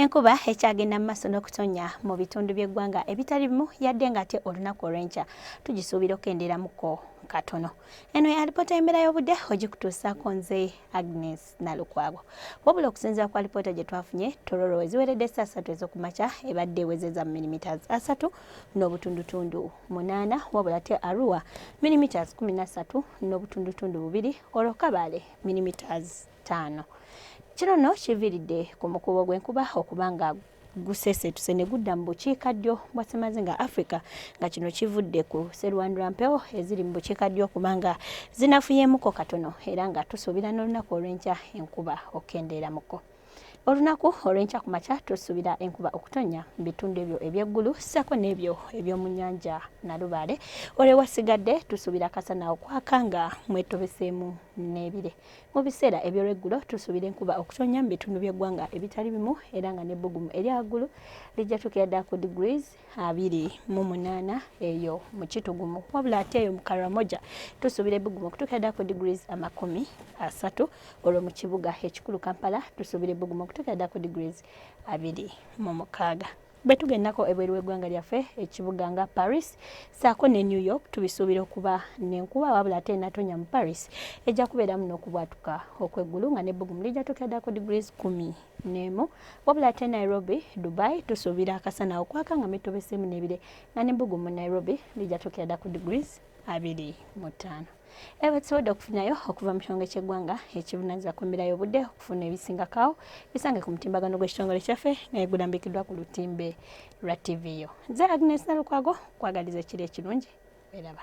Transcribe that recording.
Enkuba ekyagenda mu maaso n'okutonnya mu bitundu by'eggwanga ebitali bimu yadde ng'ate olunaku olw'enkya tugisuubira okukendeeramuko katono. Eno ya alipoota y'embeera y'obudde ogikutuusaako nze Agnes Nalukwago. Wabula okusinziira ku alipoota gye twafunye, Tororo weziweredde essa asatu ez'oku makya ebadde ewezeza mu milimiters asatu n'obutundutundu munaana, wabula ate Arua milimiters kumi na ssatu n'obutundutundu bubiri, olwo Kabale milimiters ttaano kino no kiviiridde ku mukubo gw'enkuba okuba nga gusesetuse ne gudda mu bukiikaddyo bwa ssemazinga africa nga kino kivudde ku serwandula mpewo eziri mu bukiikaddyo okuba nga zinafuyeemuko katono era nga tusuubira n'olunaku olw'enkya enkuba okukendeeramuko olunaku olw'enkya ku makya tusuubira enkuba okutonnya mu bitundu ebyo eby'eggulu ssaako n'ebyo eby'omu nnyanja nalubaale olwewasigadde tusuubira kasana okwaka nga mwetobeseemu n'ebire Mu biseera eby'olweggulo tusuubira enkuba okutonnya mu bitundu by'eggwanga ebitali bimu era nga n'ebbugumu erya waggulu lijja tuukira ddala ku degrees abiri mu munaana eyo mu kitugumu wabula ate eyo mu karamoja tusuubira ebbugumu okutuukira ddala ku degrees amakumi asatu olwo mu kibuga ekikulu kampala tusuubira ebbugumu okutuukira ddala ku degrees abiri mu mukaaga Bwe tugendako ebweru w'eggwanga lyaffe ekibuga nga Paris saako ne New York tubisuubira okuba n'enkuba wabula ate enatonya mu Paris ejja kubeeramu n'okubwatuka okw'eggulu nga n'ebbugumu lijja tuukira ddala ku degrees kumi n'emu wabula ate Nairobi Dubai tusuubira akasana okwaka nga mitobeseemu n'ebire nga n'ebbugumu Nairobi lijja tuukira ddala ku degrees abiri mu ttaano era bwetusobodde okufunayo okuva mu kitongole ky'eggwanga ekibunanyiza ku mbeera y'obudde okufuna ebisingakaawo bisange ku mutimbagano gw'ekitongole kyaffe naye gulambikiddwa ku lutimbe lwa ttivi yo nze agnes nalukwago kwagaliza ekiri ekirungi eraba